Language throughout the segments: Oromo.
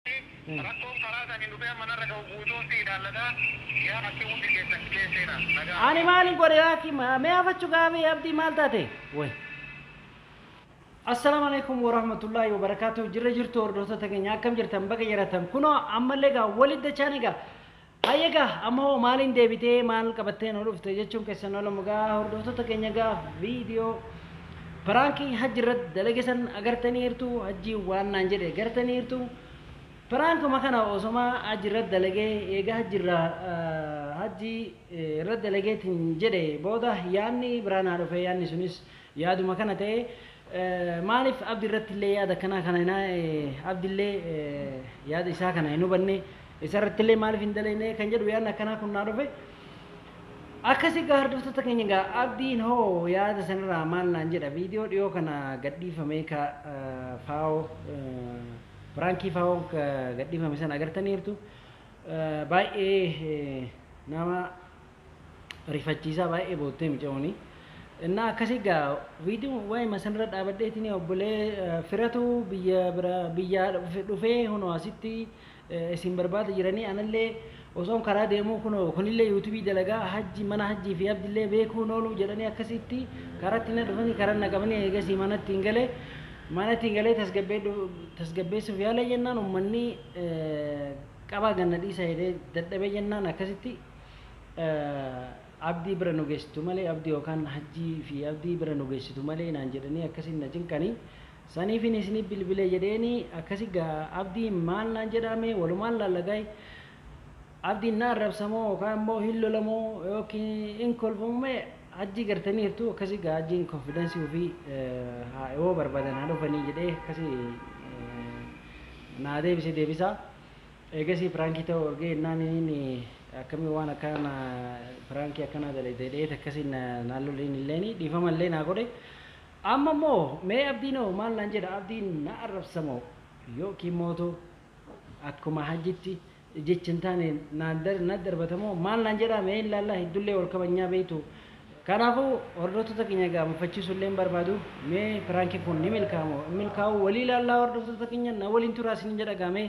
Rakkoon karaa saniin dhufee amma narra gahu guutuun si ilaallata. Yaa Abdii hundi keessan qicee seena. Nagaa Ani Abdii. maalin godhe aki mee hafachu gaabe abdii maal taate way Assalam alaikum warahmatullahi wabarakatuh jirra jirtu hordoftoota keenya akkam jirtan baga jiratan kunoo ammallee egaa walitti dachaan egaa Hayyee egaa amma hoo maaliin deebitee maal qabattee nu dhufte jechuun keessan olamu egaa hordoftoota keenya egaa viidiyoo piraankii hajji irratti dalage san agartaniirtu hajji waan naan jedhe agartaniirtu piraankuma kana osoma hajji irratti dalagee eegaa hajji irraa ah, hajji eh, irratti dalageetiin jedhe booda yaanni biraa naa dhufe yaanni sunis Yaaduma kana ta'e maalif Abdi irrattillee yaada akkanaa kana hin Abdillee yaada isaa kana hin hubanne isarrattillee maalif hin dalaynee kan jedhu yaadni akkanaa kun naa dhufe. Akkasi gaa hordoftoota keenya gaa Abdiin hoo yaada sanirraa maal naan jedha viidiyoo dhiyoo kana gadhiifamee ka faawoo piraankii faawoo gadhiifame sana agartaniirtu baay'ee nama rifachiisaa baay'ee boottee micooni. Innaa akkasii gaa viidiyoo waa'ee masanirra dhaabadheetiin obbolee firatu biyya bira biyyaa dhufee hunoo asitti isin barbaada jiranii anallee osoon karaa deemuu kunoo kunillee yuutubii dalagaa hajji mana hajjii fi abdillee beekuu nooluu jedhanii akkasitti karatti na dhufanii karaa na qabanii eegasii manatti hin galee manatti hin galee tasgabbeessuuf yaala jennaan ummanni qabaa ganna dhiisa jedhee dadhabee jennaan akkasitti Abdii bira nu geessitu malee Abdii yookaan Hajjii fi Abdii bira nu geessitu malee naan jedhanii akkasiin na cinqanii saniifin isiniif bilbilee jedheeni akkasi gaa Abdiin maal naan jedhaa mee walumaan laalla gaay Abdiin na arrabsa moo yookaan immoo hin lola moo yookiin hin kolfa moo mee Hajjii gartaniirtu akkasi gaa Hajjiin konfidensii ofii haa yoo barbaadan haa dhufanii jedhee akkasi naa deebise deebisaa Eegasii piraankii ta'uu argee ennaan inin akkami waan akkanaa na piraankii akkanaa dalayda jedheet akkasiin na naan lole inilleen dhiifama illee naa godhe. Amma immoo mee Abdiin hoo maal naan jedha Abdiin na arrabsa moo yookiin mootu akkuma Hajjitti jecha hin taane naan dar na darbata moo maal naan jedhaa mee hin laallaa heddullee wal kabajnaa beektu. Kanaafuu hordoftoota keenya egaa mufachiisuu illee hin barbaadu mee piraankiin kun ni milkaa'a moo hin milkaa'uu walii ilaallaa hordoftoota keenya na waliin turaa isiniin jedha egaa mee.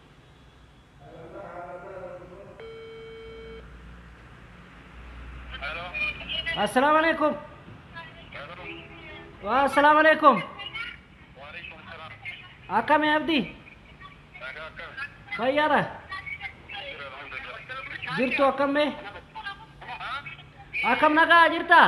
Assalamu alaikum. Waa assalamu alaikum. Akkami abdi? Fayyaadha. Jirtu akkamme? Akkam nagaa jirtaa?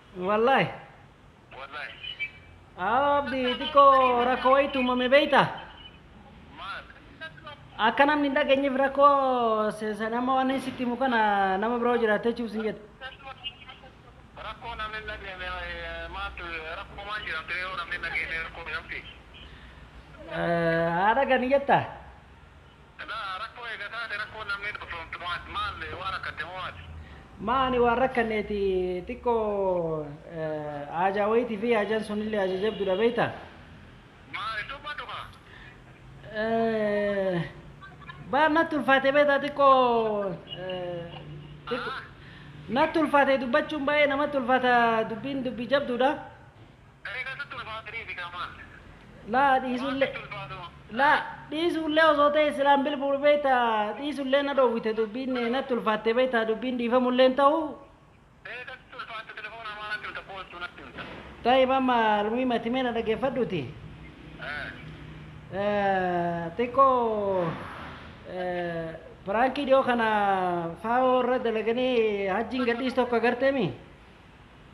Wallahi. Wallahi. Abdi xiqqoo rakkoo wayiitu uumame beekta. Maal? Akka namni hin dhageenyeef rakkoo se- se- nama waan inni sitti himu kana nama biroo jiraattee jechuuf sin jedhe. Rakkoo namni hin dhageenye eh, maaltu rakkoo maal jedhamte yoo namni hin dhageenye rakkoo jedhamti? Eh, Haadha gani jetta. Silaa rakkoo eega taate rakkoon namni dhusoomtu maati? Maal waan rakkatte moo maati? Maa ani waan rakkanneeti xiqqoo haajaa wayiiti fi haajan sunillee haaja jabdudha beekta. Maal hin dubbattu kaa? Eh, Baar natti ulfaate beekta xiqqoo eh, xiqqoo- natti ulfaate dubbachuun baay'ee namatti ulfaata dubbiin dubbii jabdudha. Eega sitti ulfaatanii fi kaa maal? Laa dhiisu Waan illee sitti ulfaatu. laa dhiisu illee osoo ta'e silaan bilbilu beekta dhiisu illee na dhoowwite dubbiin eh, natti ulfaatte beekta dubbiin dhiifamu illee hin ta'u. Eega sitti ulfaatte telefoona amaa natti himta koottu natti himta. Taayib amma almuhiim ati mee na dhaggeeffadhuuti. Eh. Eh, xiqqoo eh, piraankii dhiyoo kana faawoo irra dalaganii hajjiin gadhiis tokko agarteemi.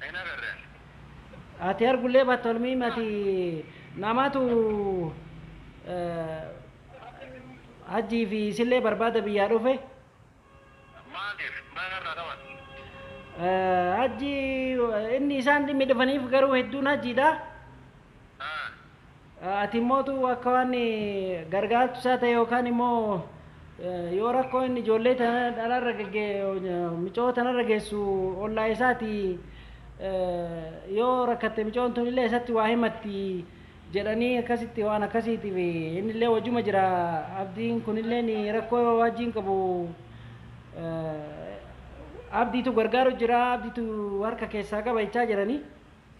Hin agarre. Ati argullee batta olmiin ati namatu hajjii fi isillee barbaada biyyaa dhufe. Maaliif? Maal irraa qaban? Hajji inni isaan dhimmi dhufaniif garuu hedduun hajjiidha. Ah, Ati immoo utuu akka waan gargaartu isaa ta'e yookaan immoo yoo rakkoo inni ijoollee tana dhalarra gagge micoo tanarra geessu ollaa isaati yoo rakkatte micoon tun illee isatti waa himatti jedhanii akkasitti waan akkasiitiif inni illee wajjuma jira abdiin kun illee ni rakkoo wajjiin qabu abdiitu gargaaru jira abdiitu harka keessaa qaba jechaa jiranii.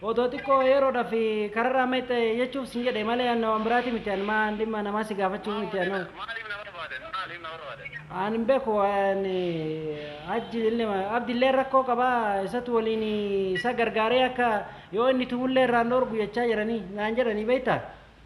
Otoo xiqqoo yeroodhaf kararraa mayxxe jechuuf sin jedhe malee anna waan biraati miti an maan dhimma namaa si gaafachuu Maal miti an hoo. barbaaddan? Maaliif na barbaaddan? Maaliif na barbaaddan? An hin beeku an hajji illee abdi illee rakkoo qaba isatu waliin isa gargaaree akka yoo inni tumullee irraan dhoorgu jechaa jiranii naan jedhanii beektaa.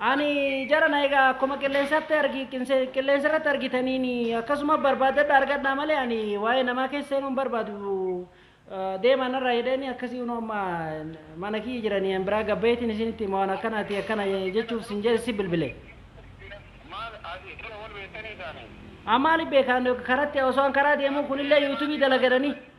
Ani jarana egaa akkuma qilleensatti argi qilleensa irratti argitaniin akkasuma barbaadadha argadhaa malee ani waa'ee namaa keessa seenuu hin barbaadu deemaa narraa jedheeni akkasii unoo amma mana kiyya jiranii an biraa gabbayeetiin isinitti hima waan akkanaati akkana jechuuf sin jedhe si bilbile. Maal asii dura wal beektanii isaanii? An maaliif beekaan karatti osoo an karaa deemuu kunillee yuutubii dalagadhanii.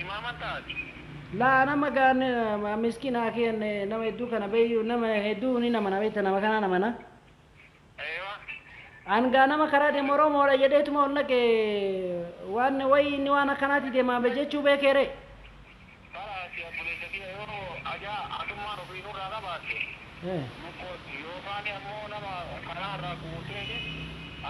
Imaaman taati. Laa nama gaan miskina akiyan nama hedduu kana beeyu nama hedduu ni namana beekta nama kanaa namana. Eewa. An gaa nama karaa deemu Oromoodha jedheetuma ol naqe waan wayi inni waan akkanaati deemaa be jechuu beekee ree. Baraasi abbuleessa kiyya yoo ajaa atummaan ofii nurraa qabaatte. Ee. Mukkooti. Yookaan ammoo nama karaa irraa guurteeti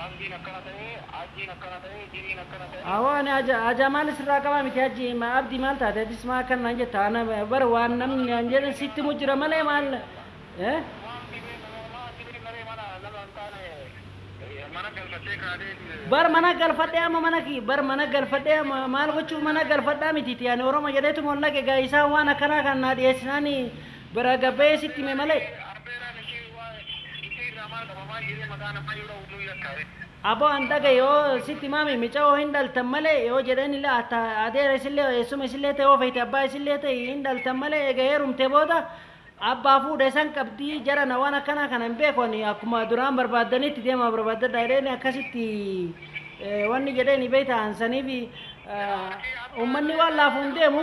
abdiin akkana ta'e, hajjiin akkana ta'e, jiniin akkana ta'e. Awoo ani haja hajaa maal sirraa qabaa miti hajji ma abdi maal taate atis maa akkan naan jetta ana bar waan namni naan jedhan sitti himu jira malee maal ee. Maal si beekna ree maal si beekna ree mana nama hin taane eh, mana galfattee kaatee. Bar mana galfadhee amma mana kiyya bar mana galfadhee ma- maal gochuuf mana galfadhaa miti ti ani oromo jedheetu mollaqe gaa isaan waan akkanaa kan naa dhiyeessinaani Bira gabee sitti hime malee. Arbeeraan ishii waan ishii irraa maal qaba maal jedhee maqaa namaa yoo dha'u nu yakkaa ree. Aboo an dhagahe yoo sitti himame micayoo hin dhaltan malee yoo jedheen illee atta adeera isillee eessuma isillee ta'e yoo feete abbaa isillee ta'e hin dhaltan malee eega heerumte booda abbaa fuudha isan qabdi jarana waan akkanaa kana hin beeku ani akkuma duraan barbaaddanitti deemaa barbaaddadha jedheen akkasitti wanni jedheen beekta an saniif ummanni waan laafuun deemu.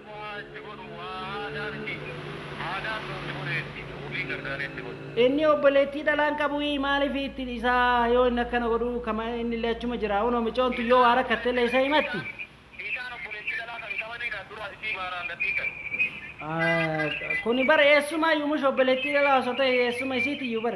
Bu'aa itti godhu waa aadaa miti aadaan nuuti godhee itti ofii gargaaree itti godhu. Inni obboleettii dhalaa hin qabuuyii maaliif itti dhisaa yoo inni akkana godhu kama innillee achuma jira unoo micoon tun yoo waa rakkattellee isa himatti. Isaan obboleettii dhalaa kan qabanii dha dura isii maaraan gad dhiisan. Kuni bar eessumaayyu mush obboleettii dhalaa osoo ta'e eessuma isiitiyyu bar.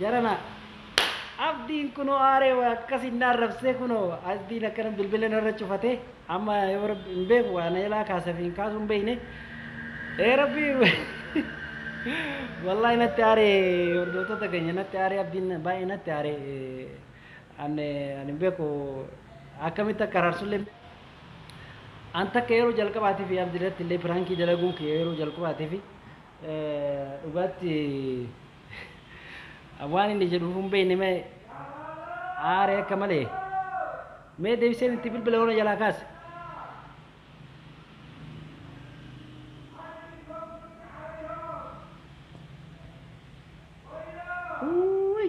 Jarana Abdiin kunoo aaree waa akkasiin na arrabsee kunoo Abdiin akkana bilbila narra cufate amma yoo rabbi hin beeku waa na jalaa kaasa fi hin kaasu hin beekne ee rabbi wallaahi natti aaree hordoftoota keenya natti aaree Abdiin baay'ee natti aaree ani ani hin beeku akkamitti akka araarsullee an takka yeroo jalqabaatiif Abdi irratti illee piraankii dalaguun kiyya yeroo jalqabaatiif Dhugaatti waan inni jedhu utuu hin beekne mee aare akka malee. Mee deebiseen itti bilbila yoo na jalaa kaase. Uuuy!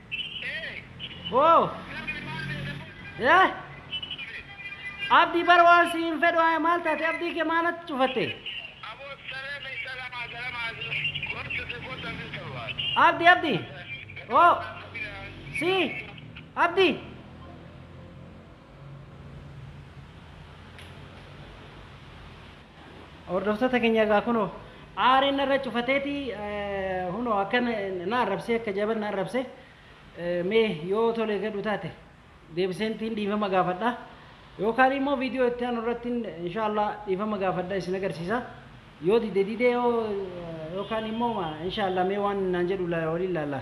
Hoo. Eh. Abdii bara waan si hin fedhu haa maal taate abdii kee maalatti cufatte? Abdi abdi. Oh. Si. Abdi. Hordoftoota keenya egaa kunoo aariin narra cufateeti hunoo akka na arrabsee akka jaban na arrabse mee yoo tolee gadhu taate deebiseentiin dhiifama gaafadha yookaan immoo viidiyoo itti aanu irratti inshaallah dhiifama gaafadha isin agarsiisa yoo dide dide yoo yookaan immoo inshaallah mee waan naan jedhu waliin laalla.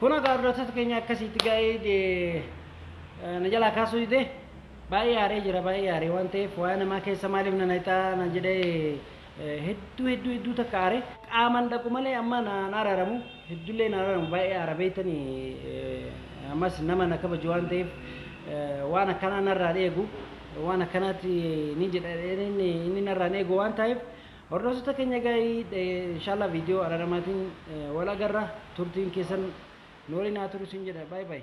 Kun egaa hordoftoota keenya akkasiitti gaa'ee na jalaa kaasuu didee baay'ee aaree jira baay'ee aaree waan ta'eef waa'ee namaa keessa maaliif na naqxaa na jedhee hedduu hedduu hedduu takka aaree qaaman dhaqu malee amma na araaramu hedduullee na araaramu baay'ee aara beektani ammas nama na kabaju waan ta'eef waan akkanaa narraan eegu waan akkanaatti ni jedha inni narraan eegu waan ta'eef Hordoftoota keenya gaa'ii inshallah viidiyoo araramaatiin wal agarra turtiin keessan nu waliin haa turu sin jedha bye bye.